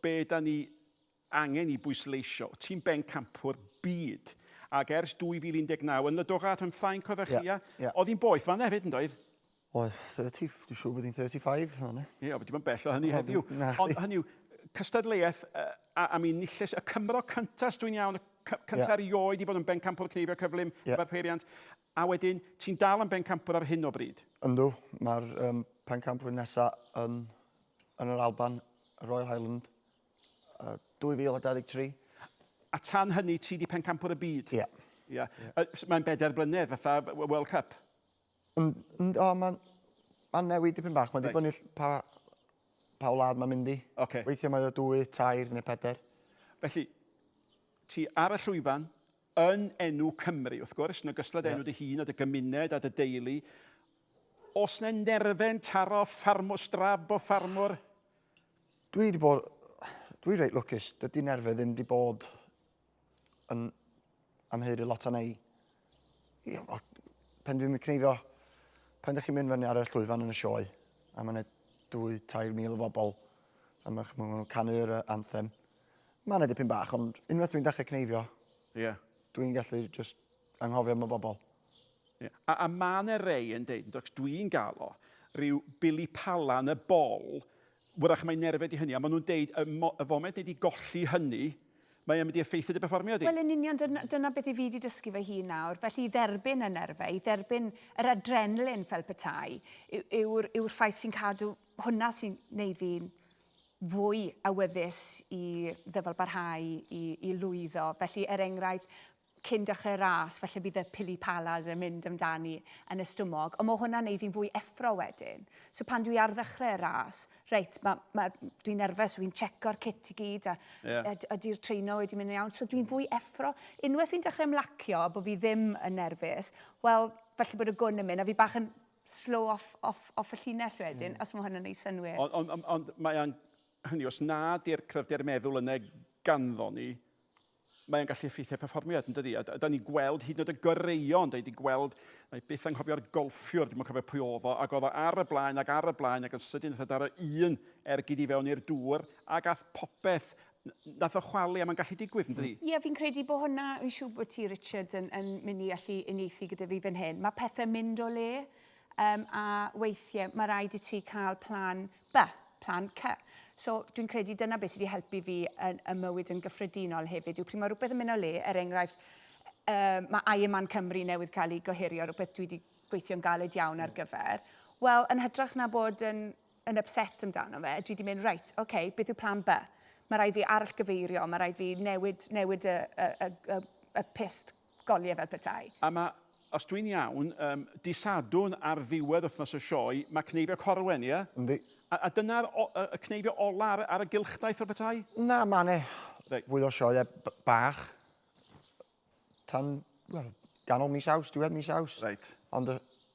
Be dan ni angen i bwysleisio, ti'n bencampwr byd, ac ers 2019 yn Ledoga a Rhym Ffrainc oeddech chi, ia? Ia, ia. Oedd hi'n boeth fan'na hefyd, yn doedd? Oedd, 30, dwi'n siŵr bod hi'n 35 fan'na. Ia, ond bod hi'm yn bell o hynny heddiw. Nacdi. Ond hynny yw, cystadleuaeth, a, a mi nilles y Cymro cynta, os dwi'n iawn, y cynta erioed i fod yn bencampwr cneifio cyflym efo'r peiriant. A wedyn, ti'n dal am bencampwr ar hyn o bryd? Yndw, mae'r um, pencampwr nesaf yn, yn yr Alban, y Royal Highland, uh, 2023. A tan hynny, ti di pencampwr y byd? Ie. Yeah. Yeah. Yeah. Uh, mae'n bedair blynedd, fatha World Cup? Yn, yn, o, mae'n ma newid dipyn bach. Mae'n right. dibynnu pa, pa wlad mae'n mynd i. Okay. Weithiau mae o dwy, tair neu peder. Felly, ti ar y llwyfan, yn enw Cymru, wrth gwrs, yn ogystal â dy enw dy hun a dy gymuned a dy deulu. Os na nerfen taro ffarmwr, strab o ffarmwr? Dwi wedi bod... Dwi reit lwcus. Dydy nerfe ddim wedi bod yn amheurydd lot arna i. Pen dwi'n cneifio, pen ydych chi'n mynd fyny ar y llwyfan yn y sioe, a mae'n dwy, tair mil o bobl, a mae'n canu yr anthem, Mae yna dipyn bach, ond unwaith dwi'n dechrau cneifio, yeah. dwi'n gallu just anghofio am y bobl. Yeah. A, a mae yna rei yn dweud, ac dwi'n gael o, rhyw bili pala yn y bol, wrach mae'n nerfed i hynny, a maen nhw'n deud, y, mo, y foment neu di golli hynny, mae'n mynd i effeithio dy berfformio di. Wel, yn union, dyna, dyna beth i fi wedi dysgu fy hun nawr. Felly, i dderbyn y nerfau, i dderbyn yr adrenalin fel petai, yw'r yw, yw ffaith sy'n cadw Hwnna sy'n neud fi'n fwy awyddus i ddyfalbarhau, i, i lwyddo. Felly, er enghraifft, cyn dechrau ras, falle bydd y pili palas yn mynd amdani yn y stumog, ond mae hwnna'n neud fi'n fwy effro wedyn. So pan dwi ar ddechrau'r ras, reit, ma, ma, dwi'n nerfus, so fi'n checo'r cit i gyd, a yeah. ydy'r treino wedi mynd yn iawn. So dwi'n fwy effro. Unwaith fi'n dechrau ymlacio, bod fi ddim yn nerfus, wel, falle bod y gwn yn mynd, a fi bach yn slow off, off, off y llinell wedyn, mm. os mae hwn yn ei synwyr. Ond, ond, ond, ond mae o'n, hynny, os na di'r cryfder meddwl yna ganddo ni, mae o'n gallu effeithio perfformiad yn dydi. A da ni'n gweld hyd yn oed y goreuon, da ni wedi gweld, na i byth anghofio'r golffiwr, dwi'n cofio pwy oedd o, ac oedd o ar y blaen ac ar y blaen ac yn sydyn wrth y daro un ergyd i fewn i'r dŵr ac ath popeth Nath o chwalu a mae'n gallu digwydd, yn dydi? Ie, fi'n credu bod hwnna, fi'n siŵr bod ti Richard yn, yn mynd i allu unieithu gyda fi fan hyn. Mae pethau'n mynd o le um, a weithiau mae rhaid i ti cael plan B, plan C. So dwi'n credu dyna beth sydd wedi helpu fi yn y mywyd yn gyffredinol hefyd yw pryd mae rhywbeth yn mynd o le, er enghraifft, uh, mae Iron Man Cymru newydd cael ei gohirio, rhywbeth dwi wedi gweithio'n galed iawn ar gyfer. Wel, yn hytrach na bod yn yn ypset amdano fe, dwi 'di mynd, reit, ok, beth yw plan by? Mae rhaid fi arallgyfeirio, mae rhaid fi newid, newid y, y, y, y, y pist goliau fel petai. A mae, os dwi'n iawn, um, dy Sadwrn ar ddiwedd wythnos y sioe, mae Cneifio Corwen, ie? Yndi. A, a dyna'r y cneifio ola ar, ar y gylchdaith fel petai? Na, mae ne right. fwy o sioe bach tan, wel, ganol mis aws, diwedd mis aws. Right. Ond y